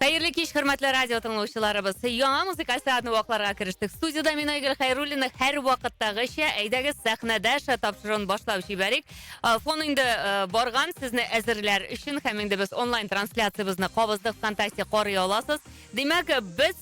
Хәерле кич, хөрмәтле радио тыңлаучыларыбыз. Яңа музыкаль сәгатьне вакларга керештек. Студиядә мин Айгөл Хәйруллина һәр вакыттагыча. Әйдәгез сәхнәдә ша тапшыруын башлап җибәрик. Э, фон инде э, барган сезне әзерләр өчен һәм инде без онлайн трансляциябезне кабыздык ВКонтакте карый аласыз. Димәк, без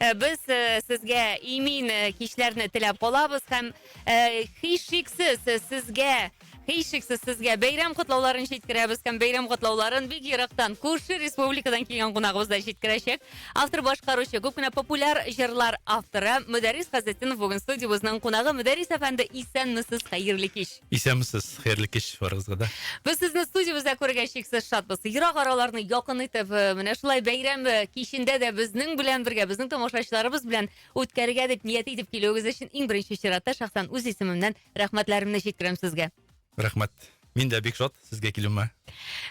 Э, без э, сезгә имин э, кичләрне теләп калабыз һәм һичшиксез сезгә һичшиксез сезгә бәйрәм котлауларын җиткерәбез һәм бәйрәм котлауларын бик ерактан күрше республикадан килгән кунагыбыз да җиткерәчәк автор башкаручы күп кенә популяр җырлар авторы мөдәррис газетдинов бүген студиябезнең кунагы мөдәррис әфәнде исәнмесез хәерле кич Исәнмесез, хәерле кич барыгызга да. Без сезне студиябездә күрергә чиксез шатбыз. Ерак араларны якын итеп, э, менә шулай бәйрәм э, кичендә дә безнең белән бергә, безнең тамашачыларыбыз белән үткәрергә дип ният итеп килүегез өчен иң беренче чиратта шәхсән үз исемемнән рәхмәтләремне җиткерәм сезгә. Рәхмәт. Мин дә бик шат сезгә килүемә.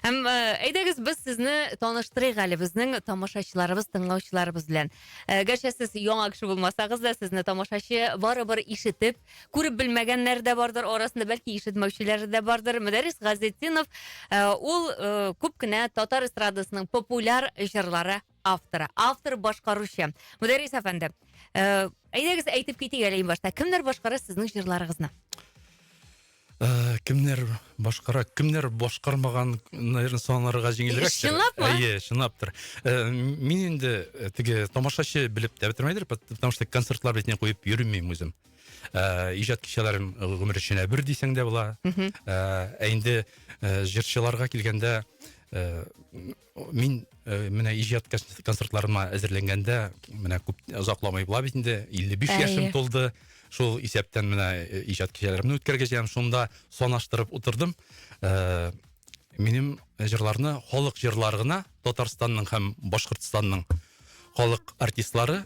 Һәм э, әйдәгез без сезне таныштырыйк әле безнең тамашачыларыбыз, тыңлаучыларыбыз белән. Э, Гәрчә сез яңа кеше булмасагыз да, сезне тамашачы барыбер ишетеп, күреп белмәгәннәр дә бардыр арасында бәлки ишетмәүчеләр дә бардыр мөдәррис газетдинов э, ул э, күп кенә татар эстрадасының популяр җырлары авторы автор башкаручы мөдәррис әфәнде э, әйдәгез әйтеп китик әле иң башта кемнәр башкара сезнең җырларыгызны Э, кемнәр башкара кемнәр башкармаган наверное санарга җиңелрәк чынлапмы әйе чынлаптыр э, мин инде э, теге тамашачы белеп тә бетермәйдер потому что концертлар бетне куеп йөрмим үзем иҗат кичәләрем гомер эченә бер дисәң дә була ә инде җырчыларга килгәндә Мин э, менә иҗат концертларыма әзерләнгәндә, менә күп озакламый була бит инде, 55 Әйе. яшем тулды. Шул исәптән менә э, иҗат кичәләремне үткәргәҗәм, шунда санаштырып утырдым. Э, минем җырларны халык җырлары гына Татарстанның һәм Башкортстанның халык артистлары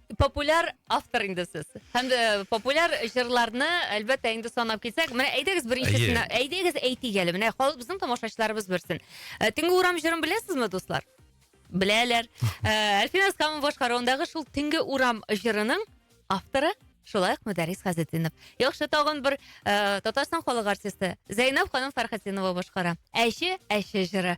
популяр автор инде сез. Һәм дә популяр җырларны, әлбәттә, инде санап китсәк, менә әйдәгез беренчесенә, әйдәгез әйтик әле, менә халык безнең тамашачыларыбыз белсен. Э, Төнге урам җырын беләсезме, дуслар? Беләләр. Э, Әлфин Аскамов башкаруындагы шул Төнге урам җырының авторы Шулай ук Мөдәрис Газетдинов. Яхшы тагын бер э, Татарстан халык артисты Зәйнәб ханым Фәрхәтдинова башкара. Әче, әче җыры.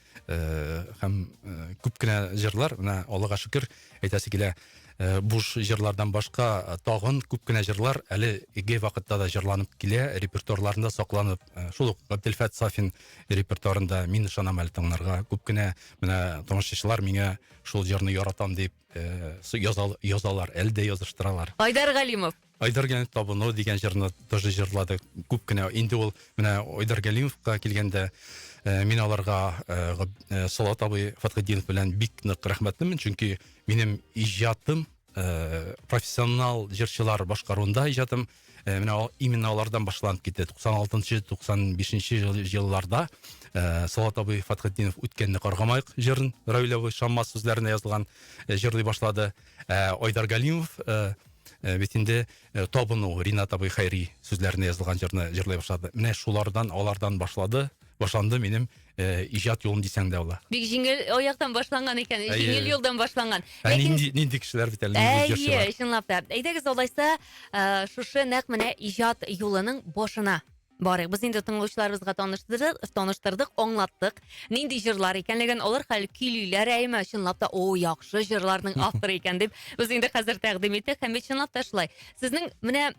э, һәм э, күп кенә җырлар менә аллага шөкер әйтәсе килә э, буш җырлардан башка э, тагын күп кенә җырлар әле иге вакытта да җырланып килә репертуарларында сакланып э, шул ук габделфәт сафин репертуарында мин ышанам әле таңнарга күп кенә менә тамашачылар миңа шул җырны яратам дип э, яза- язалар әле дә языштыралар Айдар Галимов. Айдаргәлимов табыну дигән җырны тоже җырладык. Күп кенә инде ул менә Айдаргәлимовка килгәндә э, мин аларга э, э, Салават абый Фатхетдинов белән бик нык рәхмәтлемен, чөнки минем иҗатым э, профессионал җырчылар башкаруында иҗатым э, менә именно алардан башланып китте. 96-95 елларда э, Салават абый Фатхетдинов үткәнне каргамайк җырын Рәүләвы Шаммас сүзләренә язылган э, җырлый башлады. Ә Айдар Галимов Э, бит инде э, табыну ринат абый хәйри сүзләренә язылган җырны җырлый башлады менә шулардан алардан башлады башланды минем э, иҗат юлым дисәң дә була бик җиңел аяктан башланган икән җиңел юлдан башланган ә ләкин нинди, нинди кешеләр бит әле әйе чынлап та әйдәгез алайса шушы нәкъ менә иҗат юлының башына Барыйк, без инде тыңлаучыларыбызга таныштырдык, таныштырдык, аңлаттык. Нинди җырлар икәнлеген, алар хәл көйлиләр әйме, чынлап та, о, яхшы җырларның авторы икән дип, без инде хәзер тәкъдим иттек. Һәм бит чынлап та шулай. Сезнең менә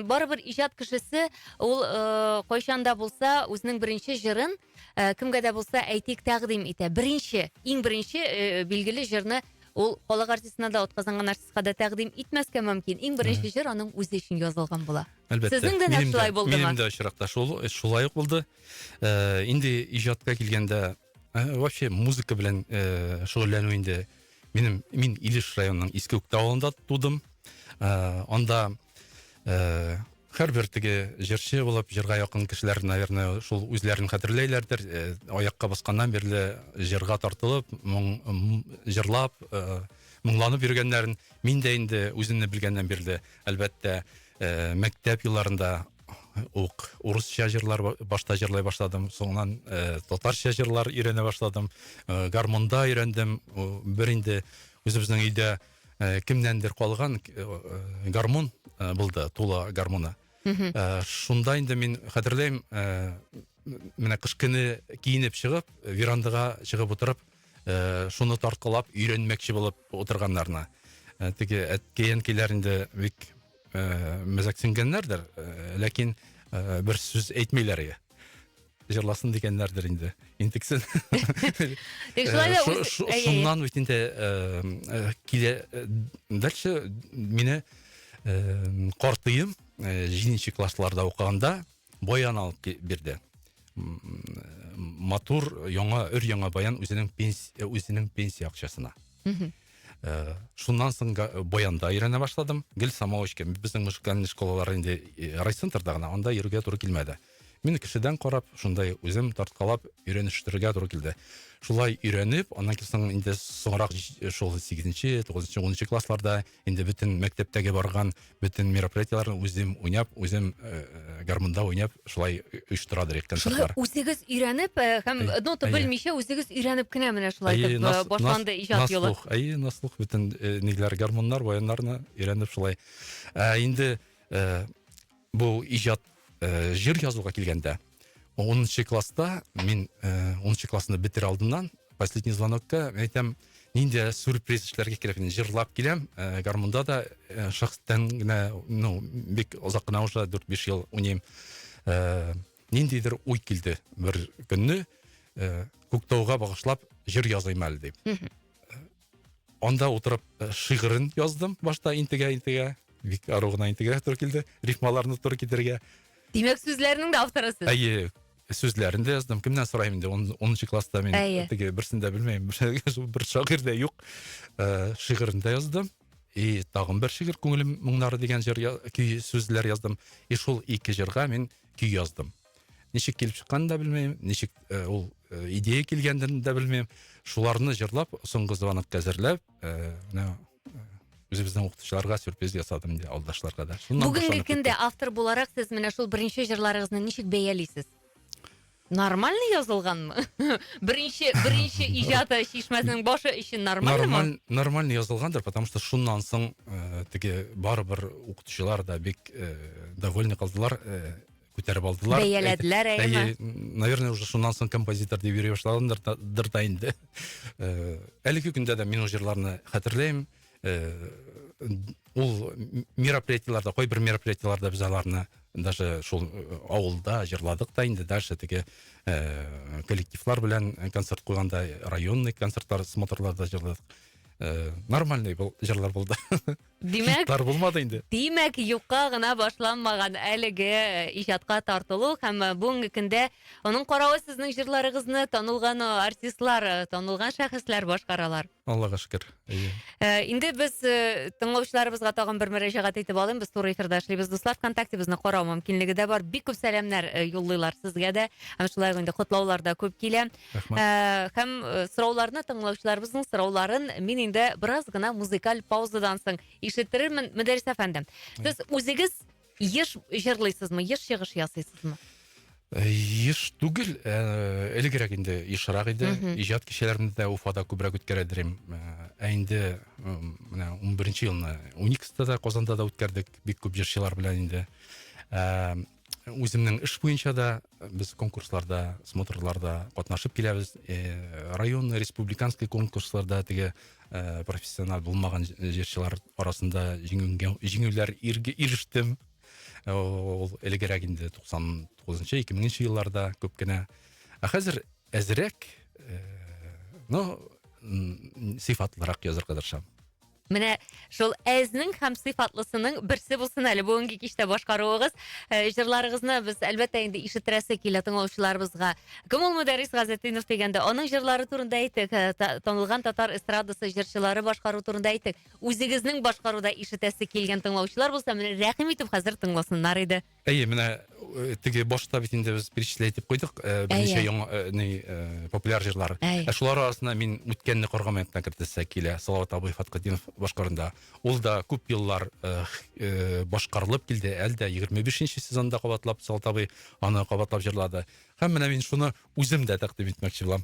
барыбер иҗат кешесе, ул э, кайчан да булса үзенең беренче җырын э, кемгә дә булса әйтик тәкъдим итә беренче иң беренче э, билгеле җырны ул халык артистына да отказанган артистка да тәкъдим итмәскә мөмкин иң беренче җыр аның үзе өчен язылган була әлбәттә сезнең дә нәкъ шулай булдымы минем дә очракта шул э, шулай ук булды э, инде иҗатка килгәндә э, вообще музыка белән шөгыльләнү инде Минем мин Илеш районының Иске Үктә авылында тудым. Ә, анда ә, һәрбер теге җырчы булып җырга якын кешеләр наверное шул үзләрен хәтерләйләрдер э, аякка басканнан бирле җырга тартылып моң, җырлап э, моңланып йөргәннәрен мин дә инде үземне белгәннән бирле әлбәттә ә, мәктәп елларында ук урысча җырлар башта җырлай башладым соңыннан ә, татарча җырлар өйрәнә башладым ә, гармонда өйрәндем бер инде үзебезнең өйдә ә, кемнәндер калган ә, гармон ә, булды тула гармоны ә, шунда инде мин хәтерләйм ә, менә кыш көне киенеп чыгып верандага чыгып утырып ә, шуны тарткалап өйрәнмәкче булып утырганнарына ә, теге әткәй әнкәйләр инде бик ә, мәзәксенгәннәрдер ә, ләкин ә, бер сүз әйтмиләр иде җырласын дигәннәрдер инде интексен шуннан бит инде килә дальше мине картыем җиденче классларда укыганда баян алып бирде матур яңа өр яңа баян үзенең пенсия үзенең пенсия акчасына мхм э, шуннан соң баянда өйрәнә башладым гел самоучка безнең музыкальный школалар инде э, райцентрда гына анда йөрергә туры килмәде мин кешедән карап шундай үзем тарткалап өйрәнештерергә туры килде шулай өйрәнеп аннан соң инде соңрак шул сигезенче тугызынчы унынчы классларда инде бөтен мәктәптәге барган бөтен мероприятиеләрне үзем уйнап, үзем э, э гармунда уйнап, шулай оештыра дирек концертлар. Шулай үзегез өйрәнеп э, һәм әй, нота белмичә үзегез өйрәнеп кенә менә шулай итеп э, башланды иҗат юлы. Наслух, әй, наслух бөтен э, ниләр гармуннар, баяннарны өйрәнеп шулай. Ә инде э, Бу иҗат э, җыр язуга килгәндә, 10 класста мин 10 э, классны бетерә алдыннан последний звонокта мен айтам нинди сюрприз эшләргә кирәк мин җырлап киләм ә, гармунда да ә, шәхестән генә ну бик озак кына уже дүрт биш ел уйныйм ә, ниндидер уй килде бер көнне ә, күктауга багышлап җыр языйм әле дип анда утырып э, шигырен яздым башта интегә интегә бик ару гына интегә туры килде рифмаларны туры китерергә димәк сүзләренең дә авторы сез әйе сүзләрен дә яздым кемнән сораймын инде онынчы класста мин әйе теге берсен дә белмәйм бер шагыйрь дә юк э, шигырен дә яздым и тагын бер шигырь күңелем моңнары дигән җыр көй сүзләр яздым и шул ике җырга мин көй яздым Ничек килеп чыкканын да белмәйм, ничек э, ул э, идея килгәнен дә белмәйм. Шуларны җырлап, соңгы звонок әзерләп, э, менә үзебезнең укытучыларга сюрприз ясадым инде алдашларга да. Бүгенге көндә автор буларак сез менә шул беренче җырларыгызны ничек бәялисез? Нормально язылганмы? беренче беренче иҗаты чишмәсенең башы өчен нормально Нормаль, нормально язылгандыр, потому что шуннан соң э, теге барыбер укытучылар да бик э, довольны калдылар. Э, күтәреп алдылар. Бәяләделәр, әйеме? Наверное, уже шуннан соң композитор дип йөри башлагандыр да инде. Э, әлеге көндә дә мин ул җырларны хәтерләйм. Э, ул мероприятиеларда, кайбер мероприятиеларда без аларны даже шул э, авылда җырладык та инде дальше теге ә, коллективлар белән концерт куйганда районный концертлар смотрларда җырладык ә, нормальный был җырлар булды Димәк, хитлар булмады инде. Димәк, юкка гына башланмаган әлеге э, иҗатка тартылу һәм э, бүгенге көндә аның каравы сезнең җырларыгызны танылган э, артистлар, танылган шәхесләр башкаралар. Аллага шөкер. Инде без тыңлаучыларыбызга тагын бер мөрәҗәгать итеп алыйм. Без туры эфирдә эшлибез, дуслар. ВКонтактебезне карау мөмкинлеге дә бар. Бик күп сәламнәр юллыйлар сезгә дә. Һәм шулай инде котлаулар да күп килә. Рәхмәт. Э, һәм э, сорауларны тыңлаучыларыбызның сорауларын мин инде бераз гына музыкаль паузадан соң ишеттерермен, Мөдәрис әфәнде. Сез үзегез еш җырлыйсызмы, еш чыгыш ясыйсызмы? Э, еш түгел, э, элегрәк инде ешрак иде. Мгм. Иҗат кичәләрендә дә Уфада күбрәк үткәрә дирем. Э, Ә инде м, менә 11 елны Уникста да Казанда да үткәрдек. Бик күп җырчылар белән инде. Э, Үземнең эш буенча да Без конкурсларда, смотрларда катнашып киләбез. Э, район, республиканский конкурсларда теге э, профессиональ булмаган җырчылар арасында җиңүләр ирештем. Э, ул элегрәк инде 99-нчы, 2000-нче елларда күп кенә. Ә хәзер әзрәк, ну, сыйфатлырак язырга тырышам. Менә шул әзнең һәм сыйфатлысының берсе булсын әле бүгенге кичтә башкаруыгыз. Э, җырларыгызны без әлбәттә инде ишетерәсе килә тыңлаучыларыбызга. Кем ул Мөдәррис Газетдинов дигәндә, аның җырлары турында әйтик, э, танылган татар эстрадасы җырчылары башкару турында әйтик. Үзегезнең башкаруда ишетәсе килгән тыңлаучылар булса, менә рәхим итеп хәзер тыңласыннар иде. Әйе, менә э, теге башта бит инде без перечислять итеп куйдык, э, берничә Әйе. яңа э, ни, э, популяр җырлар. Әйе. Ә шулар арасында мин үткәнне каргамаякны кертәсе килә. Салават абый Фаткатдинов башкарында. Ул да күп еллар э, х- э, башкарылып килде, әле дә 25-нче сезонда кабатлап Салават абый аны кабатлап җырлады. Һәм менә мин шуны үзем дә тәкъдим итмәкче булам.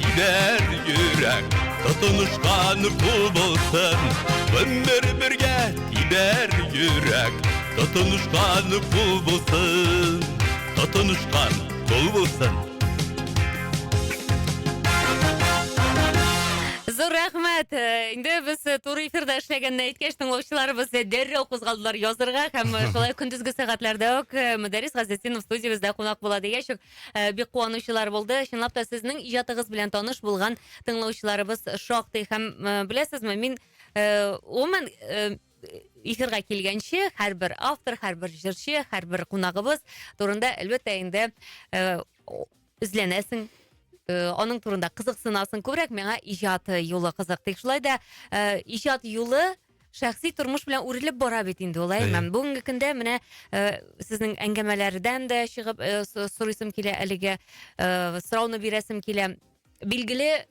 Тибәр йөрәк, тотынышкан кул булсын. Гомер бергә тибәр йөрәк, тотынышкан кул булсын. Тотынышкан кул булсын. Зур рәхмәт. Э, инде без э, туры эфирда эшләгәнне әйткәч, тыңлаучыларыбыз э, дәррәү кузгалдылар язырга һәм шулай көндезге сәгатьләрдә үк Мөдәрис Газетдинов студиябездә кунак була дигәч, Э, бик куанучылар булды. Чынлап та сезнең иҗатыгыз белән таныш булган тыңлаучыларыбыз шактый һәм э, беләсезме, мин э, гомумән эфирга килгәнче һәрбер автор, һәрбер җырчы, һәрбер кунагыбыз турында әлбәттә инде эзләнәсең, аның турында кызыксынасың күбрәк миңа иҗат юлы кызык тик шулай да иҗат юлы Шәхси тормыш белән үрелеп бара бит инде ул, әй, Бүгенге көндә менә э, сезнең әңгәмәләрдән дә чыгып э, сорыйсым килә әлеге э, сорауны бирәсем килә. Билгеле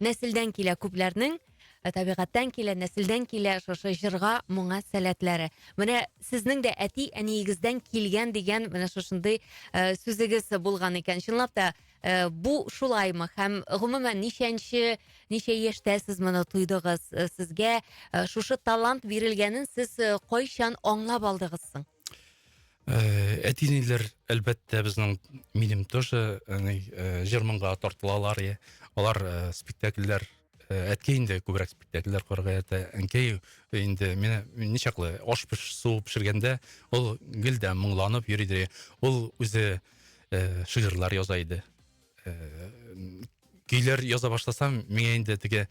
нәселдән килә күпләрнең Ә табигатьтән килә, нәселдән килә шушы җырга, моңа сәләтләре. Менә сезнең дә әти әниегездән килгән дигән менә шушындый э, сүзегез булган икән. Чынлап та Э, бу шулаймы һәм гомумән ничәнче ничә яшьтә сез моны тойдыгыз э, сезгә э, шушы талант бирелгәнен сез кайчан аңлап алдыгыз соң әти әниләр әлбәттә безнең минем тоже җырмынга тартылалар иә алар спектакльләр әткәй инде күбрәк спектакльләр корырга ярата әнкәй инде менә ничаклы аш пешсу пешергәндә ул гел дә моңланып йөри дә ул үзе э, шигырьләр яза иде. Э, көйләр яза башласам, миңа инде теге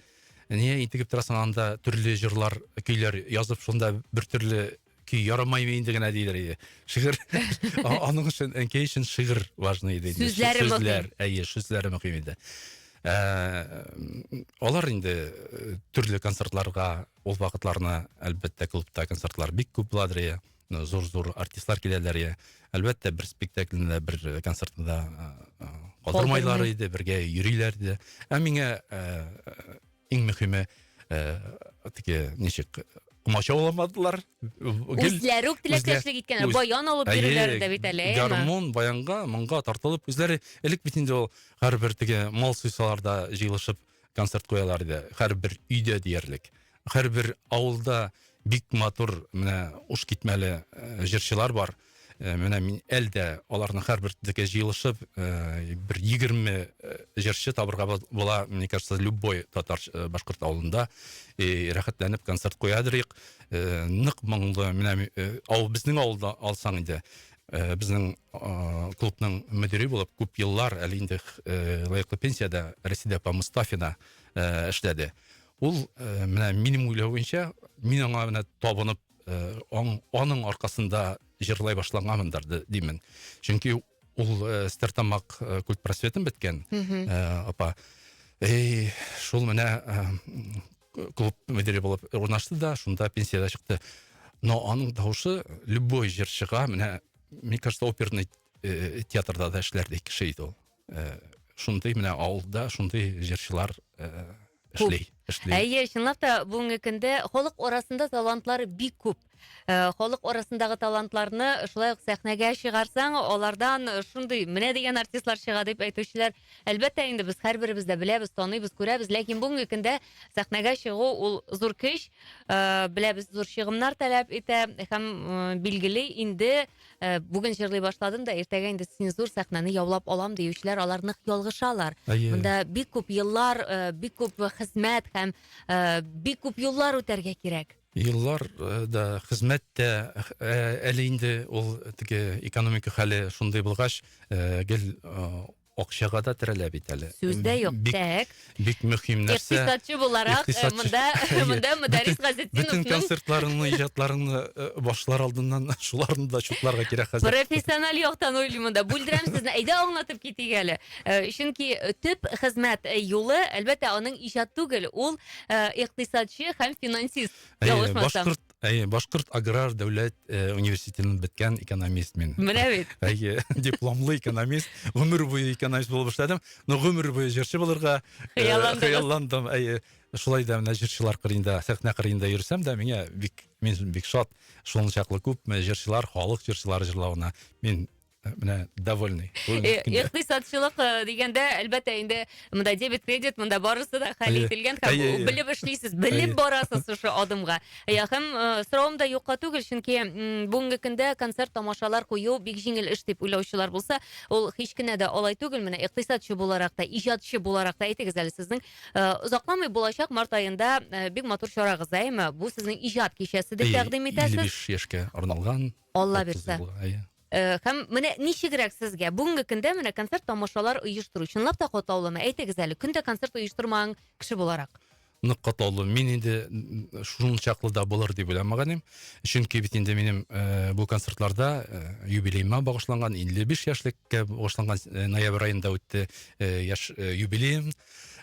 не интегеп торасың анда төрле җырлар, көйләр язып шунда бер төрле көй ярамай инде генә диләр иде. Шигырь аның өчен әнкәй өчен шигырь важный иде. Сүзләре мөһим. Сүзләр, әйе, сүзләре мөһим иде. Э, алар инде э, төрле концертларга ул вакытларны әлбәттә клубта концертлар бик күп буладыр зур зур артистлар киләләр я әлбәттә бер спектакльне бер концертны да калдырмайлар иде бергә йөриләр иде ә миңа иң мөхиме теге ничек комачауламадылар үзләре үк теләктәшлек иткәннәр баян алып йөриләр дә бит әле гармун баянга моңга тартылып үзләре элек бит инде ул һәрбер теге мал суйсалар да җыелышып концерт куялар иде. Һәрбер өйдә диярлек. Һәрбер авылда бик матур менә уш китмәле э, җырчылар бар. Э, менә мин әлдә аларның һәрберсенеке җыелышып, э, бер 20 җырчы табырга була, мне кажется, любой татар башкорт авылында и рәхәтләнеп концерт куядырыйк. Нык моңлы, менә ау безнең авылда алсаң иде, Э, безнең э, клубның мөдире булып күп еллар әле инде э, лаеклы пенсиядә рәсидә апа мостафина эшләде ул менә минем уйлау буенча мин аңа менә табынып аның аркасында җырлай башлаганмындыр димен чөнки ул стертамак культпросветын беткән апа эй шул менә клуб мөдире булып урнашты да шунда пенсияда чыкты но аның дауысы любой җырчыга менә мне кажется оперный э, театрда да эшләрдей кеше иде ул э, шундый менә авылда шундый җырчылар э, эшли эшли әйе чынлап та бүгенге көндә халык арасында талантлар бик күп Э, халык арасындагы талантларны шулай ук сәхнәгә чыгарсаң, алардан шундый менә дигән артистлар чыга дип әйтүчеләр, әлбәттә инде без һәрберебез дә беләбез, таныйбыз, күрәбез, ләкин бүгенге көндә сәхнәгә чыгу ул зур көч, э, беләбез, зур чыгымнар таләп итә һәм э, билгели инде э, бүген җырлый башладым да, иртәгә инде син зур сәхнәне яулап алам диючеләр, алар нык ялгышалар. Әйе. Монда бик күп еллар, э, бик күп хезмәт һәм э, бик күп юллар үтәргә кирәк. Еллар да, хезмәт тә, әле инде ул теге экономика хәле шундый булгач, гел акчага да терәлә бит әле. Сүз дә юк. Тәк. Бик мөһим нәрсә. Икътисадчы буларак, монда, монда Мөдәррис Газетдиновның Бөтен концертларыңны, иҗатларыңны башлар алдыннан шуларны да чутларга кирәк хәзер. Профессиональ яктан уйлыйм монда. Бүлдерәм сезне. Әйдә аңлатып китик әле. Чөнки төп хезмәт юлы, әлбәттә, аның иҗат түгел, ул э, икътисадчы һәм финансист. Әйе, башкорт, әйе, башкорт аграр дәүләт э, университетын беткән экономист мин. Менә бит. Әйе, дипломлы экономист, гомер буе экономист булып эшләдем. Но гомер буе җырчы булырга э, хыялландым. Әйе, шулай да менә җырчылар кырында, сәхнә кырында йөрсәм дә миңа бик мин бик шат. Шулчаклы күп җырчылар, халык җырчылары җырлавына мин менә довольный икътисадчылык э, дигәндә әлбәттә инде монда дебет кредит монда барысы да хәл ителгән һәм белеп эшлисез белеп барасыз шушы адымга һәм э, соравым да юкка түгел чөнки бүгенге көндә концерт тамашалар кую бик җиңел эш дип уйлаучылар булса ул һич кенә дә алай түгел менә икътисадчы буларак та иҗатчы буларак та әйтегез әле сезнең э, озакламый булачак март айында бик матур чарагыз да әйме бу сезнең иҗат кичәсе дип тәкъдим итәсез 55 яшькә арналган Алла бирсә. Һәм менә ничегрәк сезгә бүгенге көндә менә концерт тамашалар оештыру чынлап та катлаулымы? Әйтегез әле, көн дә концерт оештырмаган кеше буларак. Нык катлаулы. Мин инде шул чаклы да булыр дип уйламаганым. Чөнки бит инде минем э, бу концертларда э, юбилеема багышланган, 55 яшьлеккә багышланган э, ноябрь аенда үтте яшь юбилеем.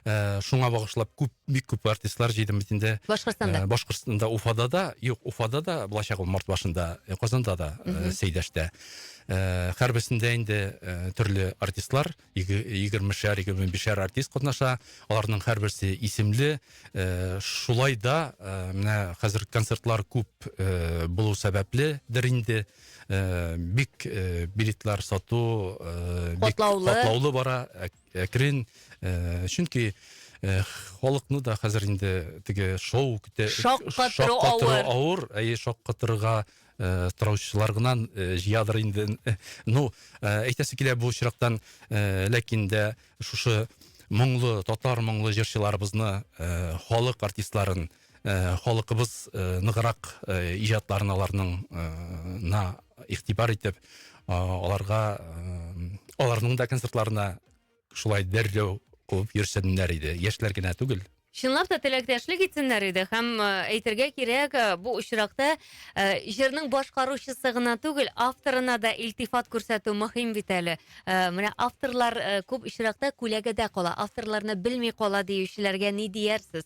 ә, шуңа багышлап күп бик күп артистлар җыйдым бит инде башкортстанда ә, башкортстанда уфада да юк уфада да булачак ул март башында э, казанда да ә, э, сәйдәштә ә, һәрберсендә инде ә, төрле артистлар егермешәр егерме бишәр артист катнаша аларның һәрберсе исемле ә, шулай да ә, менә хәзер концертлар күп ә, булу сәбәпледер инде ә, бик ә, билетлар сату ә, бик катлаулы бара Әкрен, э, чөнки э, халыкны да хәзер инде теге шоу көтә. Шаккатыру авыр. авыр, әйе, шаккатырга э, тораучылар гына э, җыядыр инде. Э, Ну, э, әйтәсе килә бу очрактан, э, ләкин дә шушы моңлы татар моңлы җырчыларыбызны, э, халык артистларын э, Э, халыкыбыз э, ныграк э, иҗатларын аларныңна игътибар итеп аларга аларның да концертларына шулай дәррәү куып йөрсеннәр иде яшьләр генә түгел Чынлап та теләктәшлек итсеннәр иде һәм әйтергә кирәк, бу очракта җырның башкаручысы гына түгел, авторына да илтифат күрсәтү мөһим бит әле. Менә авторлар күп очракта күләгәдә кала, авторларны белми кала диючеләргә ни диярсез?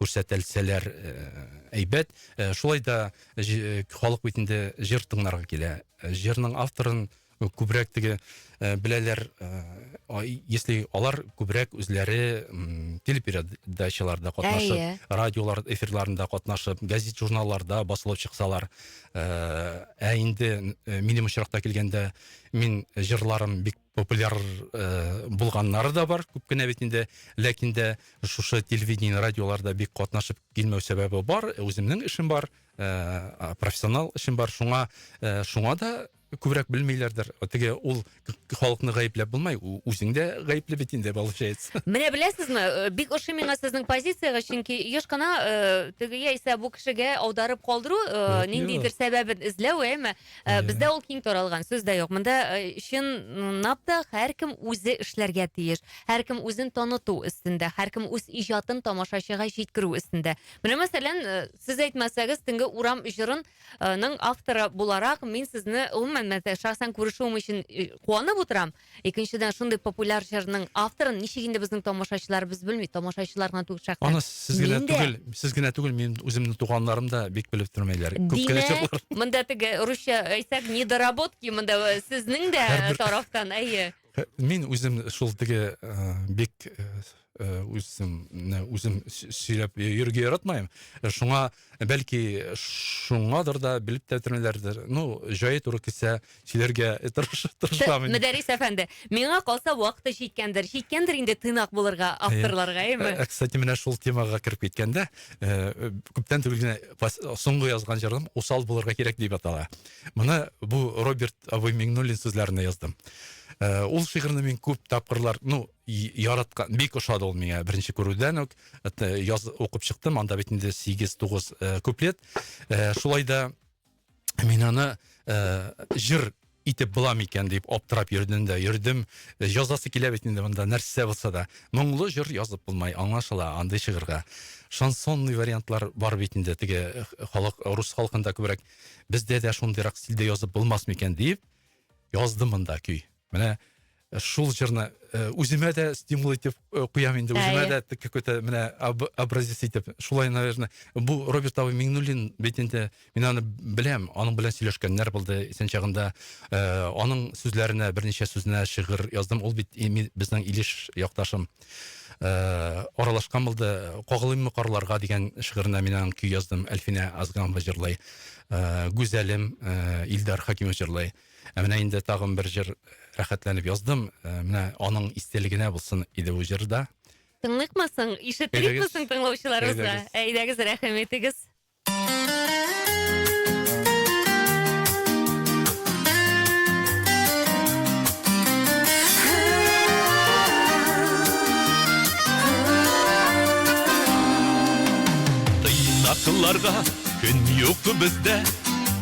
күрсәтелсәләр әйбәт. Шулай да халык бит инде җыр тыңларга килә. Җырның авторын күбрәк теге беләләр, если алар күбрәк үзләре телепередачаларда катнашып, радиолар эфирларында катнашып, газет-журналларда басылып чыксалар. Ә инде минем очракта килгәндә, мин җырларым бик популяр э, булганнары да бар күп кенә бит инде ләкин дә шушы телевидение радиоларда бик катнашып килмәү сәбәбе бар үземнең эшем бар э, профессионал эшем бар шуңа э, шуңа да күбрәк белмиләрдер теге ул халыкны гаепләп булмай үзең дә гаепле бит инде получается менә беләсезме э, бик ошый миңа сезнең позицияга чөнки еш кына э, теге яисә бу кешегә аударып калдыру э, ниндидер сәбәбен эзләү әйме Ә, Ай-яй. бездә ул киң таралган, сүз дә юк. Монда э, чынлап та һәркем үзе эшләргә тиеш. Һәркем үзен таныту өстендә, һәркем үз иҗатын тамашачыга җиткерү өстендә. Менә мәсәлән, э, сез әйтмәсәгез, төнге урам җырын э, ның авторы буларак мин сезне гомумән мәсә- шәхсән күрешүем өчен э, куанып утырам. Икенчедән, шундый популяр җырның авторын ничек инде безнең тамашачыларыбыз белми, тамашачылар гына түгел шәхсән. Аны сез генә Мин дә. түгел, сез генә түгел, минем үземнең туганнарым да бик белеп тормыйлар. Күп кенә Димәк, чырлар. монда теге русча әйтсәк, недоработки монда э, сезнең дә Һәрбер- тарафтан, әйе. Мин үзем шул теге э, бик э, Э, үземне үзем сөйләп йөрергә яратмыйм э, шуңа э, бәлки шуңадыр да белеп тә бетермиләрдер ну җае туры килсә сөйләргә тырышам мөдәрис әфәнде миңа калса вакыты җиткәндер җиткәндер инде тыйнак булырга авторларга әйме кстати менә шул темага кереп киткәндә күптән түгел генә соңгы язган җырым усал булырга кирәк дип атала моны бу роберт абый миңнуллин сүзләренә яздым ул шигырьне мин күп тапкырлар ну яраткан, бик ошады ул миңа беренче күрүдән үк. Э, яз укып чыктым, анда бит инде 8-9 э, куплет. Э, шулай да мин аны җыр итеп була микән дип аптырап йөрдем дә йөрдем. Язасы килә бит инде монда нәрсә булса да. Моңлы җыр язып булмай, аңлашыла андый шигырьгә. Шансонный вариантлар бар бит инде теге халык рус халкында күбрәк. Бездә дә шундыйрак стильдә язып булмас микән дип яздым монда көй. Менә шул җырны э, үземә дә стимул итеп э, куям инде, үземә дә какой-то менә образец итеп. Шулай, наверное, бу Роберт Ава Миңнуллин бит инде, мин аны беләм, аның белән сөйләшкәннәр булды, исән чагында э, аның сүзләренә, берничә сүзенә шигырь яздым, ул бит безнең Илеш якташым. Э, аралашкан булды кагылыйммы карларга дигән шигыренә мин аның көй яздым әлфинә азганова җырлый э, гүзәлем э, илдар хәкимов җырлый Ә менә инде тагын бер җыр рәхәтләнеп яздым. Э, менә аның истәлегенә булсын иде бу җыр да. Тыңлыйкмы соң? Ишеттерикме соң тыңлаучыларыбызга? Әйдәгез, рәхим итегез. Тыйнакыларга көн юк бездә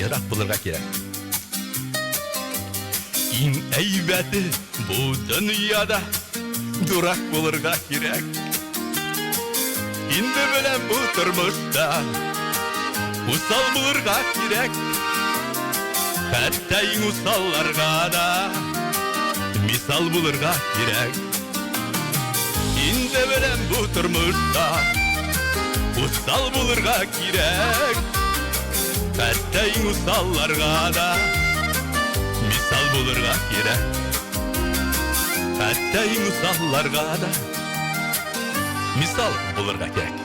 Ерак булырга кирәк. Иң әйбәте бу дөньяда дурак булырга кирәк. Инде беләм бу тормышта усал булырга кирәк. Хәтта иң усалларга да мисал булырга кирәк. Инде беләм бу тормышта усал булырга Кирәк хәтта иң усалларга да Мисал булырга кирәк хәтта иң усалларга да Мисал булырга кирәк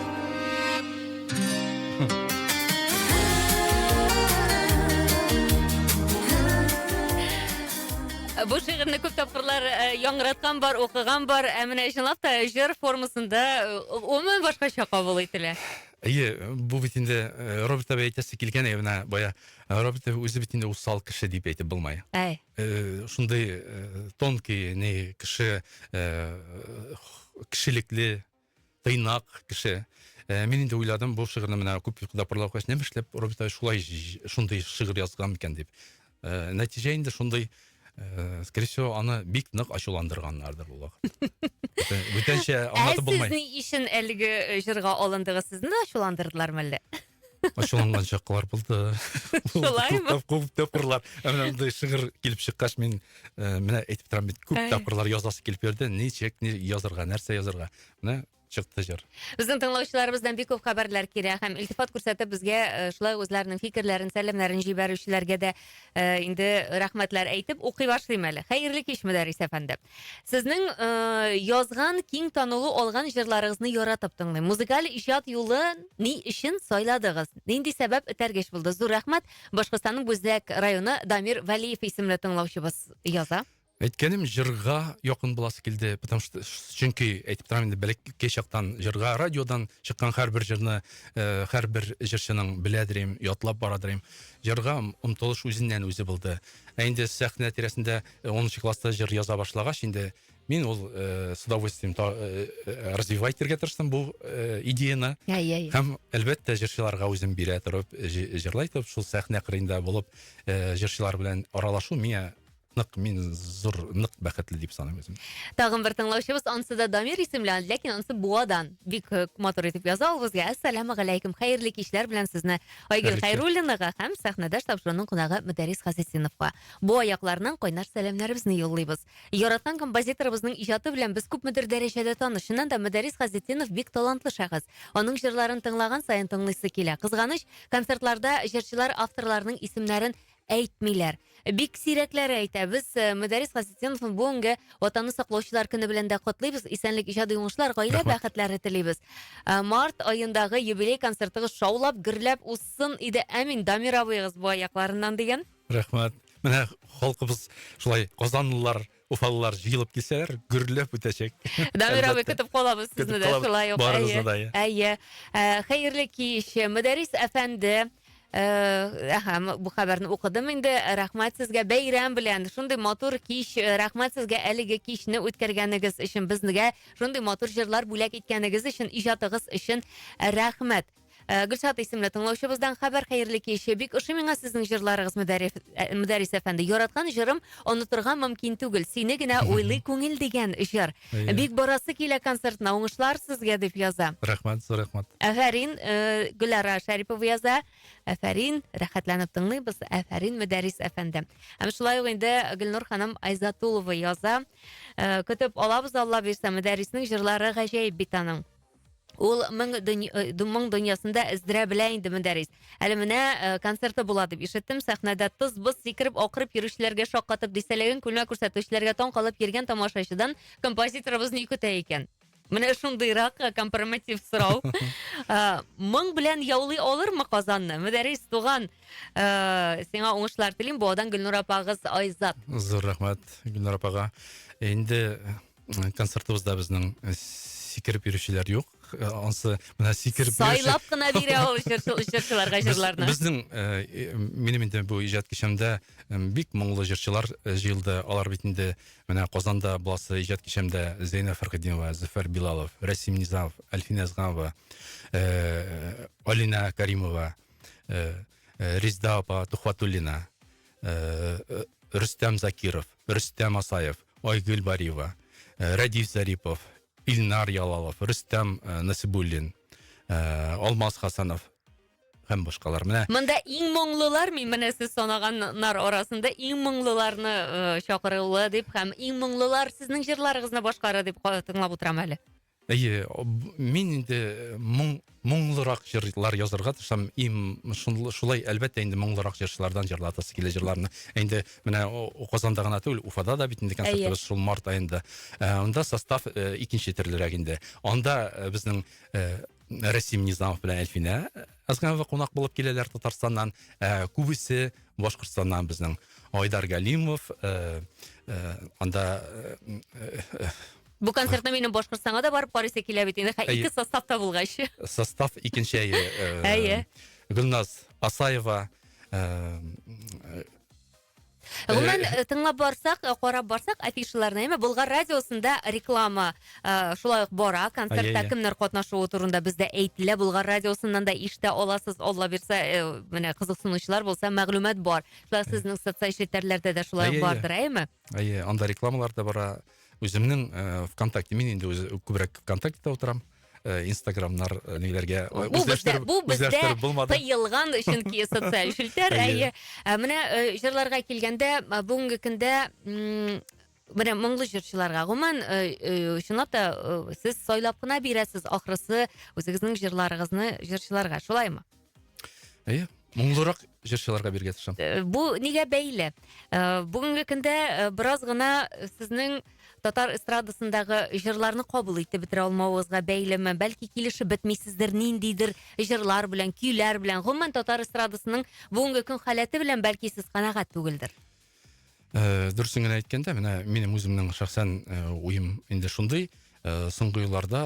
Бу шигырьне күп тапкырлар э, яңгыраткан бар, укыган бар, ә менә чынлап та җыр формасында э, гомумән башкача кабул ителә. Әйе, бу бит инде э, Роберт абый әйтәсе килгән әйе менә бая. Э, Роберт абый үзе бит инде усал кеше дип әйтеп булмай. Әй. Э, Шундый э, тонкий, не кеше э, х- кешелекле, тыйнак кеше. Э, Мин инде уйладым, бу шигырьне менә күп йокыда парлау кач, нәм эшләп Роберт абый шулай җ- шундый шигырь язган микән дип. Э, нәтиҗә инде шундый э, скорее всего аны бик нык ачуландырганнардыр ул вакыт бүтәнчә аңлатып булмый ә сез ни өчен әлеге э, җырга алындыгыз сезне дә ачуландырдылармы әллә ачуланган чаклар булды шулаймы күп тапкырлар мынандай шигырь килеп чыккач мин менә әйтеп торам бит күп тапкырлар язасы килеп йөрде ничек язарга нәрсә язарга менә чыкты җыр. Безнең тыңлаучыларыбыздан бик күп хәбәрләр килә һәм илтифат күрсәтеп безгә э, шулай үзләренең фикерләрен, сәламнәрен җибәрүчеләргә дә э, инде рәхмәтләр әйтеп укый башлыйм әле. Хәерле кич, Мөдәррис әфәнде. Сезнең э, язган, киң танылу алган җырларыгызны яратып тыңлыйм. Музыкаль иҗат юлы ни өчен сайладыгыз? Нинди сәбәп этәргеч булды? Зур рәхмәт. Башкортстанның Бүздәк районы Дамир Вәлиев исемле тыңлаучыбыз яза. Әйткәнем җырга якын буласы килде, потому что чөнки әйтеп торам инде бәләкәй чактан җырга радиодан чыккан һәрбер җырны э, һәрбер җырчының беләдер идем, ятлап барадыр идем. Җырга омтылыш үзеннән үзе булды. Ә инде сәхнә тирәсендә 10 э, класста җыр яза башлагач инде мин ул э, с удовольствием э, э, развивать итәргә тырыштым бу э, идеяны. Әй, әй. Һәм әлбәттә җырчыларга үзем бирә торып җырлайтып шул сәхнә кырында булып э, җырчылар белән аралашу миңа нык мин зур нык бәхетле дип саныйм үземне. Тагын бер тыңлаучыбыз ансы да Дамир исемле, ләкин ансы Буадан. Бик э, матур итеп яза ул безгә. Ассаламу алейкум. Хәерле кичләр белән сезне Айгөл Хәйруллинага һәм сәхнәдәш тапшыруның кунагы Мөдәрис Хасисиновка. Бу аякларның кайнар сәламнәребезне юллыйбыз. Яраткан композиторыбызның иҗаты белән без күпмедер дәрәҗәдә таныш. Чыннан да Мөдәрис Хасисинов бик талантлы шәхес. Аның җырларын тыңлаган саен тыңлыйсы килә. Кызганыч, концертларда җырчылар авторларының исемнәрен Әйтмиләр. Бик сирәкләре әйтә. Без э, Мөдәрис Хасетдиновны бүгенге Ватанны саклаучылар көне белән дә котлыйбыз. Исәнлек, иҗади уңышлар, гаилә Рәхмәт. бәхетләре телибез. Э, Март аендагы юбилей концертыгыз шаулап, гөрләп узсын иде. Әмин, Дамир абыегыз бу аякларыннан дигән. Рәхмәт. Менә халкыбыз шулай казанлылар Уфалылар җыелып килсәләр, гөрләп үтәчәк. Дамир абый көтеп калабыз сезне дә шулай ук. Барыгызны да. Әйе. Ә, хәерле кич. Мөдәрис әфәнде, Әһә, э, бу хәбәрне укыдым инде. Рәхмәт сезгә бәйрәм белән. Шундый матур кич. Э, рәхмәт сезгә әлеге кичне үткәргәнегез өчен, безгә шундый матур җырлар бүләк иткәнегез өчен, иҗатыгыз өчен рәхмәт. Э, гөлшат исемле тыңлаучыбыздан хәбәр хәерле кич бик ошый миңа сезнең җырларыгыз э, мөдәрис әфәнде яраткан җырым онытырга мөмкин түгел сине генә уйлый күңел дигән җыр бик барасы килә концертына уңышлар сезгә дип яза рәхмәт зур рәхмәт әфәрин э, гөлара шәрипова яза әфәрин рәхәтләнеп тыңлыйбыз әфәрин мөдәрис әфәнде һәм шулай ук инде гөлнур ханым айзатулова яза көтеп алабыз алла бирса мөдәрриснең җырлары гаҗәеп бит аның Ул моң э, дөньясында эздерә белә инде Мөдәрис. Әле менә э, концерты була дип ишеттем. Сәхнәдә тыз-быз сикереп, акырып йөрүчеләргә шаккатып, дистәлеген күлмәк күрсәтүчеләргә таң калып йөргән тамашачыдан композиторыбыз ни көтә икән? Менә шундыйрак э, компроматив сорау. Моң белән яулый алырмы Казанны? Мөдәрис туган, сиңа уңышлар телим. Буадан Гөлнур апагыз Айзат. Зур рәхмәт Гөлнур апага. Инде концертыбызда безнең э, сикереп йөрүчеләр юк. Э, Ансы менә сикереп йөрүче- Сайлап кына бирә ул җырчы- җырчыларга Без- җырларны. Безнең э, минем инде бу иҗат кичәмдә э, бик моңлы җырчылар э, җыелды. Алар бит инде менә Казанда буласы иҗат кичәмдә Зәйнә Фәрхетдинова, Зөфәр Билалов, Рәсим Низамов, Әлфинә Әзганова, э, Алинә Каримова, э, э, Резда апа Тухватуллина, э, э, Рөстәм Закиров. Рөстәм Асаев, Айгөл Бариева, э, Рәдиф Зарипов, Илнар Ялалов, Рөстәм э, Насибуллин, э, Алмаз Хасанов һәм башкалар. Менә Монда иң моңлылар, мин менә сез санаганнар арасында иң моңлыларны э, чакырылы дип һәм иң моңлылар сезнең җырларыгызны башкара дип ка- тыңлап утырам әле. Әйе, мин инде моң, моңлырак җырлар язарга тырышам, им, шулай, әлбәттә, инде моңлырак җырчылардан җырлатасы килә җырларны. Инде менә Казанда гына түгел, Уфада да бит инде концертыбыз шул март аенда. Э, анда состав э, икенче төрлерәк инде. Анда э, безнең Расим Низамов белән Әлфинә Әзганова кунак булып киләләр Татарстаннан. Күбесе Башкортстаннан безнең Айдар Галимов, анда Бу концертны минем Башкортстанга да барып карыйсы килә бит инде, ике составта булгач. Состав икенче әйе. Әйе. Гөлназ Асаева Гомумән, э, тыңлап барсак, э, карап барсак, афишаларны, әмма Болгар радиосында реклама э, шулай ук бара, концертта кемнәр катнашуы турында бездә әйтелә, Болгар радиосыннан да ишетә аласыз, Алла бирсә, менә кызыксынучылар булса, мәгълүмат бар. Шулай сезнең социаль челтәрләрдә дә шулай бардыр, әйеме? Әйе, анда рекламалар да бара. Үземнең э, ВКонтакте, мин инде үз- күбрәк ВКонтактеда утырам. Э, Инстаграмнар э, ниләргә э, Бу бездә, үзләштереп- бу бездә үзләштереп булмады. тыелган чөнки социаль челтәр. Әйе. Әйе. Ә Менә э, җырларга килгәндә, а, бүгенге көндә м, менә моңлы җырчыларга гомумән э, э, чынлап та э, сез сайлап кына бирәсез ахрысы үзегезнең җырларыгызны җырчыларга. Шулаймы? Әйе, моңлырак җырчыларга биргә тырышам. Э, бу нигә бәйле? Э, бүгенге көндә э, бераз гына сезнең татар эстрадасындагы җырларны кабул итеп бетерә алмавыгызга бәйлеме? Бәлки килешеп бетмисездер ниндидер җырлар белән, көйләр белән. Гомумән татар эстрадасының бүгенге көн халәте белән бәлки сез канәгать түгелдер. Э, дөресен генә әйткәндә, менә минем үземнең шәхсән э, уем инде шундый. Э, соңгы елларда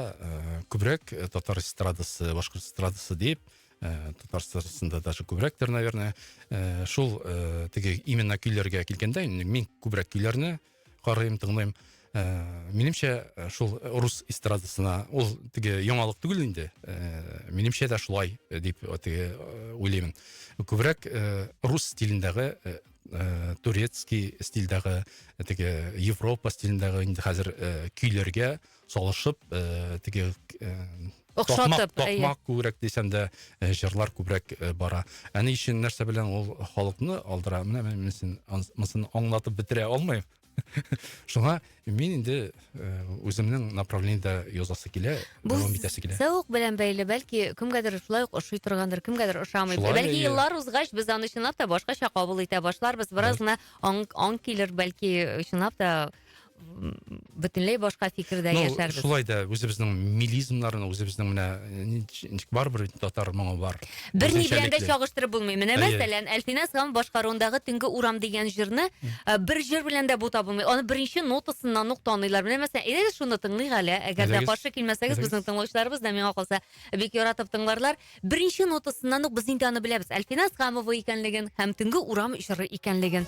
күбрәк татар эстрадасы, башкорт эстрадасы дип, татар эстрадасында даже күбрәктер, наверное, шул теге именно көйләргә килгәндә, мин күбрәк көйләрне карыйм, тыңлыйм. Э, минемчә э, шул э, рус эстрадасына ул теге яңалык түгел инде минемчә дә шулай дип теге уйлыймын күбрәк рус стилендәге турецкий стильдәге теге европа стилендәге инде хәзер көйләргә салышып теге охшатып токмак күбрәк дисәм дә җырлар күбрәк бара ә ни өчен нәрсә белән ул халыкны алдыра менә мин аңлатып бетерә алмыйм шуңа мин инде э, үземнең направлениедә язасы килә дәвам итәсе килә зәвык белән бәйле бәлки кемгәдер шулай ук ошый торгандыр кемгәдер ошамый бәлки еллар узгач без аны чынлап та башкача кабул итә башларбыз бераз гына аң килер бәлки чынлап та бөтенләй башка фикердә ну, яшәрбез шулай да үзебезнең милизмнарны үзебезнең менә Барыбер бит татар моңы бар. Берни белән дә чагыштырып булмый. Менә мәсәлән, Әлфинә Сам башкаруындагы Төнге урам дигән җырны э, бер җыр белән дә бута булмый. Аны беренче нотасыннан ук таныйлар. Менә мәсәлән, әйдәгез э, шуны тыңлыйк әле. Әгәр дә каршы килмәсәгез, безнең тыңлаучыларыбыз да миңа калса бик яратып тыңларлар. Беренче нотасыннан ук без инде аны беләбез. Әлфинә Самова икәнлеген һәм Төнге урам җыры икәнлеген.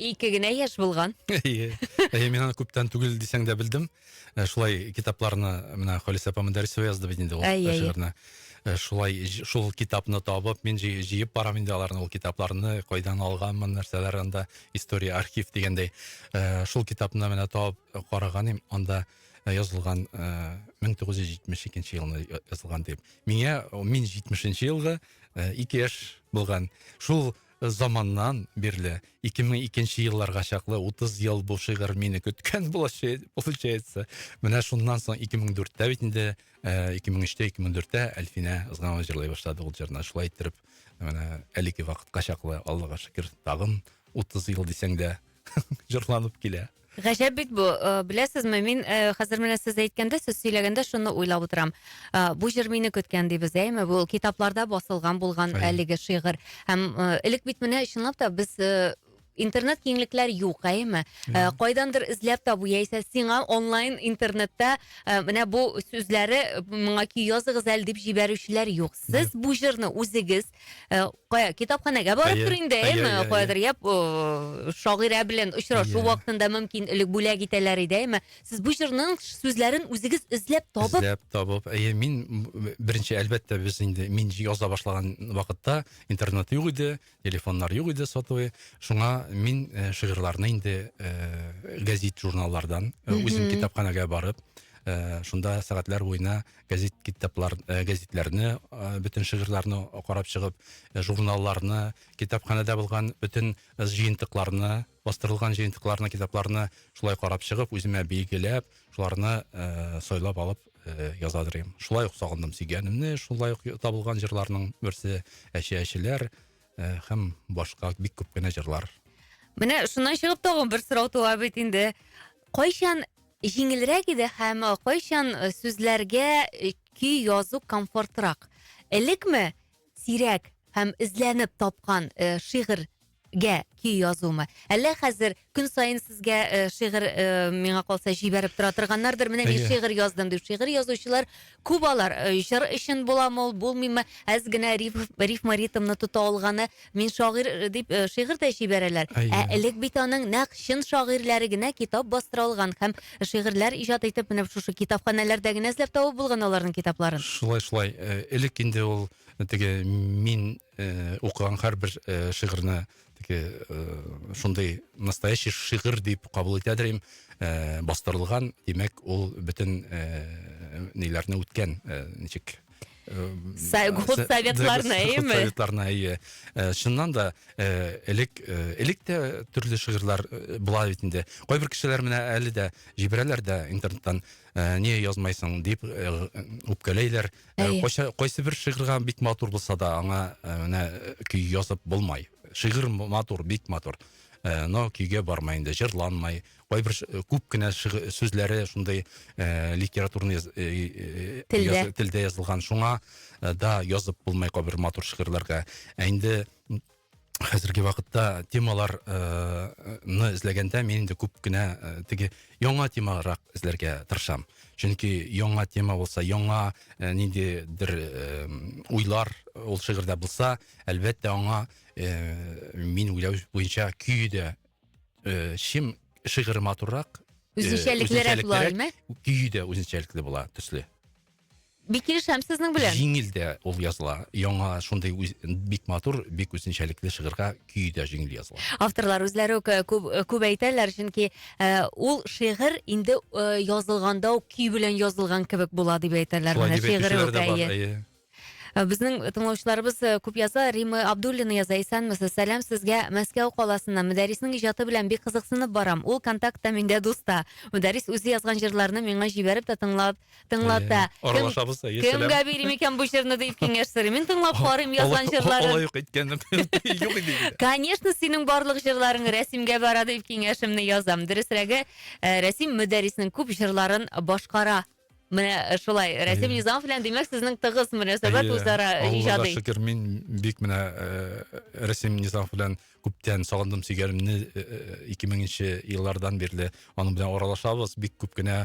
Ике генә яшь булган. Әйе. Әйе, мин аны күптән түгел дисәң дә белдем. Э, шулай китапларны менә Халисә апа Мөдәрисова язды бит инде ул Әйе, әйе. шигырьне. Э, Шулай ж- шул китапны табып, мин җый- җыеп барам инде аларны, ул китапларны, кайдан алганмын, нәрсәләр анда, история, архив дигәндәй. Э, Шул китапны менә табып э, караган идем, анда э, язылган э, 1972 елны я- язылган дип. Миңа, о, мин 70 елгы, э, ике яшь булган. Шул заманнан бирле, 2002 нче елларга чаклы 30 ел бу шигырь мине көткән булачак, получается. Менә шуннан соң 2004 тә бит инде, 2003 тә, 2004 тә Әлфинә Ызганова җырлый башлады ул җырны. Шулай иттереп, менә әлеге вакытка чаклы, Аллага шөкер, тагын 30 ел дисәң дә җырланып килә. Гаҗәп бит бу. Э, беләсезме, мин э, хәзер менә сез әйткәндә, сез сөйләгәндә шуны уйлап утырам. Э, бу җыр мине көткән дибез, әйме? Бу китапларда басылган булган әлеге шигырь. Һәм элек бит менә чынлап та без интернет киңлекләр юк, әйме? Ә, кайдандыр эзләп табу яисә сиңа онлайн интернетта ә, менә бу сүзләре моңа көй языгыз әле дип җибәрүчеләр юк. Сез бу җырны үзегез ә, кая китапханәгә барып Әйе, тор инде, әйе, әйме? әйе, әйе. Каядыр я э, шагыйрә белән очрашу Әйе. вакытында мөмкин элек бүләк итәләр иде, әйме? Сез бу җырның сүзләрен үзегез эзләп табып, Эзләп табып, әйе, мин м, беренче әлбәттә без инде мин яза башлаган вакытта интернет юк иде, телефоннар юк иде сотовый. Шуңа мин э, шигырьләрне инде э, гәзит журналлардан э, үзем Мгм. китапханәгә барып, э, шунда сәгатьләр буена гәзит китаплар э, гәзитләрне э, бөтен шигырьләрне карап чыгып э, журналларны китапханәдә булган бөтен җыентыкларны бастырылган җыентыкларны китапларны шулай карап чыгып үземә билгеләп шуларны сайлап алып язадыр едем шулай ук сагындым сөйгәнемне шулай ук табылган җырларның берсе әче әчеләр һәм башка бик күп кенә җырлар. Менә шуннан чыгып тагын бер сорау туа бит инде. Кайчан җиңелрәк иде һәм кайчан э, сүзләргә э, көй язу комфортрак? Элекме сирәк һәм эзләнеп тапкан э, шигырьгә көй язумы? Әллә хәзер Көн саен сезгә э, шигырь, э, миңа калса, җибәреп тора торганнардыр. Менә мин Әйе. шигырь яздым дип. Шигырь язучылар күп алар. Э, Җыр өчен буламы ул, булмыймы? Әз генә риф, рифма ритмны тота алганы. Мин шагыйрь э, дип э, шигырь дә җибәрәләр. Әйе. Ә элек бит аның нәкъ чын шагыйрьләре генә китап бастыра алган һәм шигырьләр иҗат итеп менә шушы китапханәләрдә генә эзләп табып булган аларның китапларын. Шулай шулай э, элек инде ул теге мин э, укыган һәрбер э, шигырьне теге э, шундый настоящий шигырь дип кабул итә дим э, бастырылган димәк ул бөтен э, ниләрне үткән э, ничек Сәгут советларына, әйеме? Советларына, әйе. Шыннан да элек элек тә төрле шигырьләр була бит инде. Кайбер кешеләр менә әле дә җибәрәләр дә интернеттан не язмайсың дип үпкәләйләр, Ә, кайсы, кайсы бер шигырьгә бик матур булса да, аңа э, менә э, көй язып булмай. Шигырь матур, бик матур. Э, но көйгә бармай инде, җырланмай. Кайбер күп кенә сүзләре шундый литературный яз, телдә. Яз, телдә язылган. Шуңа да язып булмай кайбер матур шигырьләргә. Ә инде хәзерге вакытта темалар э, ны эзләгәндә мин инде күп кенә э, теге яңа темарак эзләргә тырышам. Чөнки яңа тема булса, яңа э, ниндидер э, уйлар ул шигырьдә булса, әлбәттә аңа э, мин уйлау буенча көй дә э, чим шигырь матуррак, э, Үзенчәлеклерәк була, үзенчәлеклерәк, әйме? көй дә үзенчәлекле була төсле. Бик килешәм сезнең белән. Җиңел дә ул языла. Яңа шундый үз, бик матур, бик үзенчәлекле шигырьгә көй дә җиңел языла. Авторлар үзләре үк э, күп, э, күп әйтәләр, чөнки э, ул шигырь инде э, язылганда ук көй белән язылган кебек була дип әйтәләр. Шулай Менә дип шигыре әйтүчеләр үк, дә бар. әйе. Әйе. Э, Безнең тыңлаучыларыбыз э, күп яза. Рима Абдуллина яза. Исәнмесез. Сәлам сезгә Мәскәү каласыннан. Мөдәрриснең иҗаты белән бик кызыксынып барам. Ул контактта миндә дуста. Мөдәррис үзе язган җырларны миңа җибәреп тә тыңлап тыңлата. Аралашабыз да, сәлам. Кемгә бирим икән бу җырны дип киңәш сорыйм. Мин тыңлап карыйм язган җырларын. Алай юк иткәнем. Юк иде. Конечно, синең барлык җырларың Рәсимгә бара дип киңәшемне язам. Дөресрәге, э, Рәсим Мөдәрриснең күп җырларын башкара. Менә э, шулай. Рәсим Низамов белән димәк сезнең тыгыз мөнәсәбәт үзара иҗади. Аллага шөкер, мин бик менә э, Рәсим Низамов белән күптән сагындым сөйгәнемне 2000 нче еллардан бирле аның белән аралашабыз бик күп кенә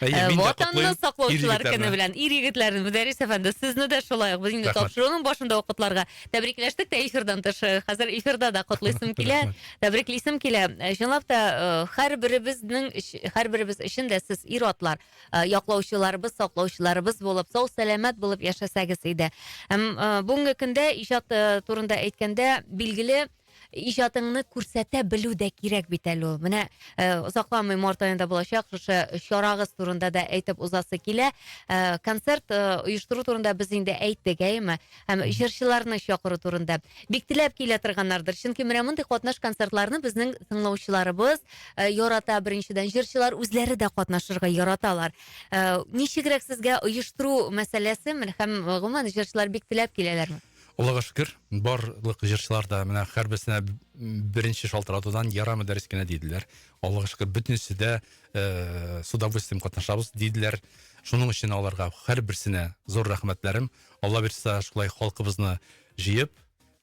Әйе, Ә, мин дә Ватанны котлыйм саклаучылар ир-егетләрне. көне белән ир егетләрне Мөдәррис әфәнде сезне дә шулай ук без инде Рәхмәт. тапшыруның башында ук котларга тәбрикләштек тә эфирдан тыш э, хәзер эфирда да котлыйсым килә Рәхмәт. тәбриклисем килә Э, чынлап та э, һәрберебезнең өч- һәрберебез өчен дә сез ир атлар э, яклаучыларыбыз саклаучыларыбыз булып сау сәламәт булып яшәсәгез иде һәм э, бүгенге көндә иҗат э, турында әйткәндә билгеле иҗатыңны күрсәтә белү дә кирәк бит әле ул. Менә э, озакламый март аенда булачак шушы чарагыз турында да әйтеп узасы килә. Э, концерт э, оештыру турында без инде әйттек, әйеме? Һәм җырчыларны чакыру турында. Бик теләп килә торганнардыр. Чөнки менә мондый катнаш концертларны безнең тыңлаучыларыбыз э, ярата беренчедән. Җырчылар үзләре дә катнашырга яраталар. Э, ничегрәк сезгә оештыру мәсьәләсе һәм гомумән җырчылар бик теләп киләләрме? Аллага шөкер, барлык җырчылар да менә һәрберсенә беренче шалтыратудан ярамы дәрес кенә диделәр. Аллага шөкер, бөтенесе дә э, с удовольствием катнашабыз диделәр. Шуның өчен аларга һәрберсенә зур рәхмәтләрем. Алла бирса, шулай халкыбызны җыеп,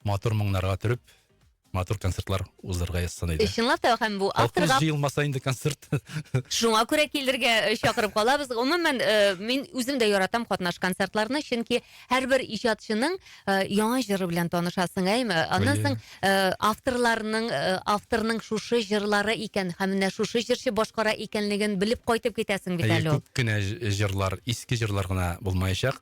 матур моңнарга төреп, матур концертлар уздырырга язсын иде. Чынлап та һәм бу авторга җыелмаса инде концерт. Шуңа күрә килергә э, чакырып калабыз. Гомумән, э, мин үзем дә яратам катнаш концертларны, чөнки һәрбер иҗатчының э, яңа җыры белән танышасың, әйме? Аннан соң авторларның авторның шушы җырлары икән һәм менә шушы җырчы башкара икәнлеген белеп кайтып китәсең бит әле. Күп кенә җырлар, иске җырлар гына булмаячак.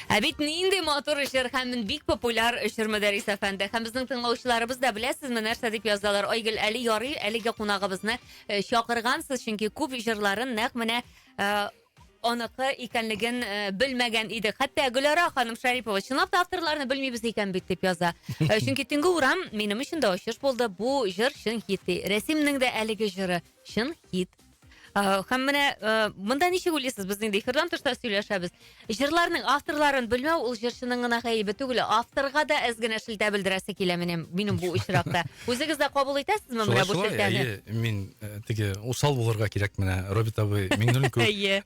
Ә бит нинди матур җыр һәм бик популяр җыр Мөдәррис әфәнде. Һәм безнең тыңлаучыларыбыз да беләсезме нәрсә дип язалар. Айгөл, әле ярый, әлеге кунагыбызны э, чакыргансыз, чөнки күп җырларын нәкъ менә э, аныкы икәнлеген э, белмәгән идек. Хәтта Гөлара ханым Шарипова чынлап та авторларны белмибез икән бит дип яза. Э, Чөнки Төнге урам минем өчен дә ачыш булды. Бу җыр чын хит. ди. Рәсимнең дә әлеге җыры чын хит. Һәм э, менә э, монда ничек уйлыйсыз, без инде эфирдан тышта сөйләшәбез. Җырларның авторларын белмәү ул җырчының гына гаебе түгел, авторга да әз генә шелтә белдерәсе килә менә минем бу очракта. Үзегез дә кабул итәсезме менә бу шелтәне? Әйе, мин э, теге усал булырга кирәк менә Роберт абый Миңнуллин күп. Әйе.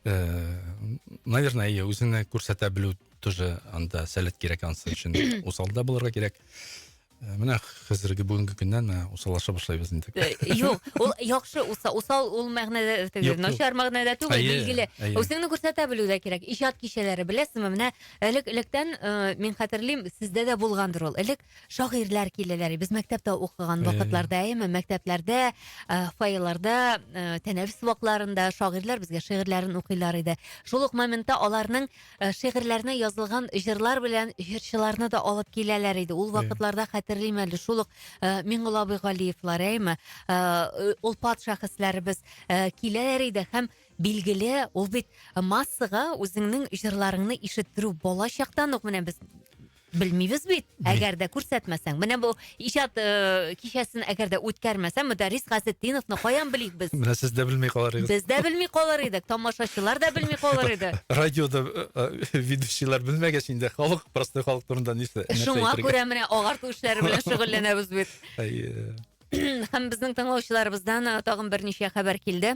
Наверное, әйе, үзеңне күрсәтә белү тоже анда сәләт кирәк ансы өчен. Усал да булырга кирәк. Э, менә хәзерге бүгенге көннән менә усаллаша башлайбыз инде э, юк ул яхшы усал ул мәгънәдә теге начар мәгънәдә түгел билгеле үзеңне күрсәтә белү дә кирәк иҗат кичәләре беләсезме менә элек электән э, мин хәтерлим сездә дә булгандыр ул элек шагыйрьләр киләләр без мәктәптә укыган вакытларда әйме мәктәпләрдә фойеларда тәнәфес вакытларында шагыйрьләр безгә шигырьләрен укыйлар иде шул ук моментта аларның Э, шигырьләренә язылган җырлар белән җырчыларны да алып киләләр иде. Ул вакытларда хәтерлим әле, шул ук э, Миңгола абый Галиевлар, әйме, э, олпат шәхесләребез киләләр иде һәм билгеле, ул бит массага үзеңнең җырларыңны ишеттерү бала чактан ук менә без Белмибез бит. Әгәр дә күрсәтмәсәң, менә бу иҗат э, кичәсен әгәр дә үткәрмәсәң, Мөдәррис Газетдиновны каян белик без? Менә сез дә белми калар идегез. Без дә белми калыр идек, тамашачылар да белми калыр иде. Радиода э, э, ведущийлар белмәгәч инде халык, простой халык турында нәрсә нәрсә Шуңа әйтергә? күрә менә агарту эшләре белән шөгыльләнәбез бит. Әйе. Һәм безнең тыңлаучыларыбыздан э, тагын берничә хәбәр килде.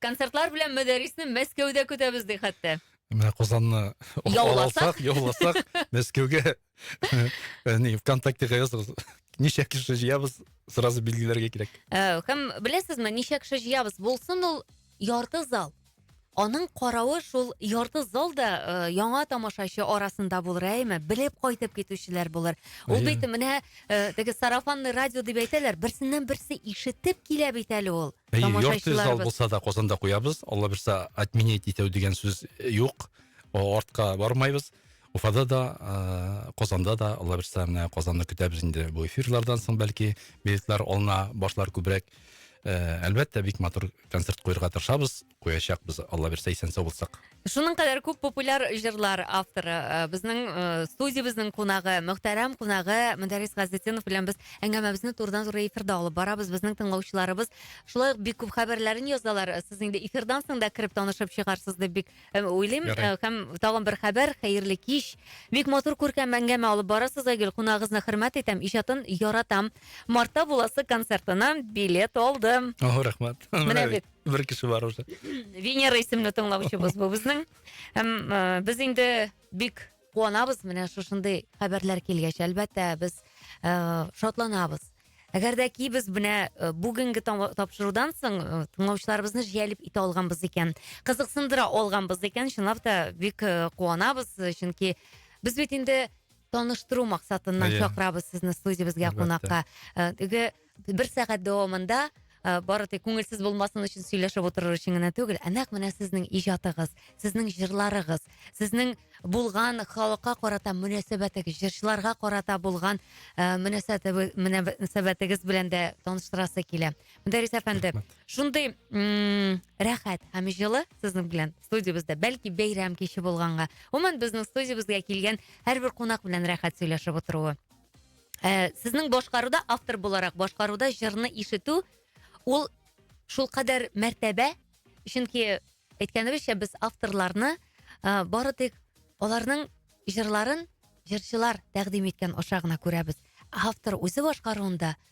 Концертлар белән Мөдәрисне Мәскәүдә көтәбез ди хәтта. Менә Казанны яуласак, яуласак, Мәскәүгә не ВКонтактега языгыз. Ничә кеше җыябыз, сразу билгеләргә кирәк. Ә, һәм беләсезме, ничә кеше җыябыз? Булсын ул ярты зал. Аның каравы шул ярты зал да э, яңа тамашачы арасында булыр, әйме? Белеп кайтып китүчеләр булыр. Ул бит менә э, теге сарафанный радио дип әйтәләр, берсеннән берсе ишетеп килә бит әле ул. Әйе, йорт зал булса да Казанда куябыз. Алла бирса, отменять итәү дигән сүз юк. Артка бармайбыз. Уфада да, ә, Казанда да, Алла бирса, менә Казанны көтәбез инде бу эфирлардан соң, бәлки, билетлар алына башлар күбрәк. Ә, әлбәттә, бик матур концерт куярга тырышабыз. куячакбыз, Алла бирсә, исән-сау булсак. Шуның кадәр күп популяр җырлар авторы, э, безнең э, студиябезнең кунагы, мөхтәрәм кунагы Мөдәррис Газетдинов белән без әңгәмәбезне турыдан-туры эфирда алып барабыз. Безнең тыңлаучыларыбыз шулай ук бик күп хәбәрләрен язалар. Э, Сез инде эфирдан соң да кереп танышып чыгарсыз дип бик э, уйлыйм. Ярый. Э, Һәм тагын бер хәбәр, хәерле кич. Бик матур күркәм әңгәмә алып барасыз, Айгөл. Кунагыгызны хөрмәт итәм, иҗатын яратам. Мартта буласы концертына билет алдым. О, рәхмәт. Менә бит. Бер кеше бар уже. Венера исемле тыңлаучыбыз бу безнең. Һәм э, без инде бик куанабыз менә шушындый хәбәрләр килгәч. Әлбәттә, без э, шатланабыз. Әгәр дә ки без менә э, бүгенге там- тапшырудан соң э, тыңлаучыларыбызны җәлеп итә алганбыз икән, кызыксындыра алганбыз икән, чынлап та бик э, куанабыз, э, чөнки без бит инде таныштыру максатыннан Иә. чакырабыз сезне студиябезгә Әлбәттә. кунакка. Э, Теге бер сәгать дәвамында ы бары тик күңелсез булмасын өчен сөйләшеп утырыр өчен генә түгел ә нәкъ менә сезнең иҗатыгыз сезнең җырларыгыз сезнең булган халыкка карата мөнәсәбәтегез җырчыларга карата булган ы мөнәсәбәтегез белән дә таныштырасы килә мөдәрис әфәнде шундый ммм рәхәт һәм җылы сезнең белән студиябездә бәлки бәйрәм киче булганга гомумән безнең студиябезгә килгән һәрбер кунак белән рәхәт сөйләшеп утыруы Ә, сезнең башкаруда, автор буларак башкаруда җырны ишетү, ул шул кадәр мәртәбә, чөнки әйткәнебезчә, без авторларны ә, бары тик аларның җырларын җырчылар тәкъдим иткән аша гына күрәбез. Автор үзе башкаруында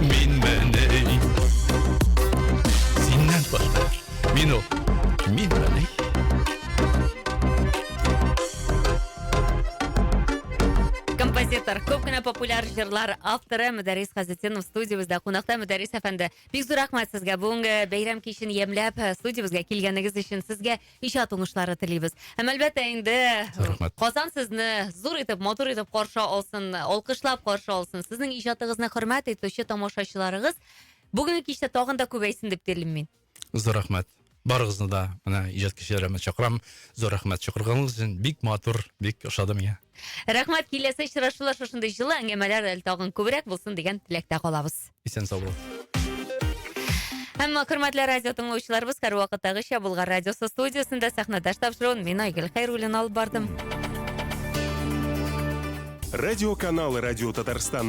Мин мәней. Синнән башка. Мин ул. Мин мәней. Композитор, көп кенә популяр җырлар авторы Мөдәррис Хәзетдинов студиябездә кунакта Мөдәррис әфәнде. Бик зур рәхмәт сезгә бүгенге бәйрәм кичен ямьләп э, студиябезгә килгәнегез өчен. Сезгә Иҗат уңышлары телибез. Һәм әлбәттә инде Рәхмәт. Казан сезне зур итеп, матур итеп каршы алсын, алкышлап каршы алсын. Сезнең иҗатыгызны хөрмәт итүче тамашачыларыгыз бүгенге кичтә тагын да күбәйсен дип телим мин. Зур рәхмәт. Барыгызны да менә иҗат кичәләремә чакырам. Зур рәхмәт чакырганыгыз өчен. Бик матур, бик ошады миңа. Рәхмәт, киләсе очрашулар шушындый җылы әңгәмәләр әле тагын күбрәк булсын дигән теләктә калабыз. Исән сау бул. Әмма хөрмәтле радио тыңлаучыларыбыз һәрвакыттагыча Булгар радиосы студиясендә сәхнәдәш тапшыруын мин Айгөл Хәйруллин алып бардым. Радиоканал Радио Татарстан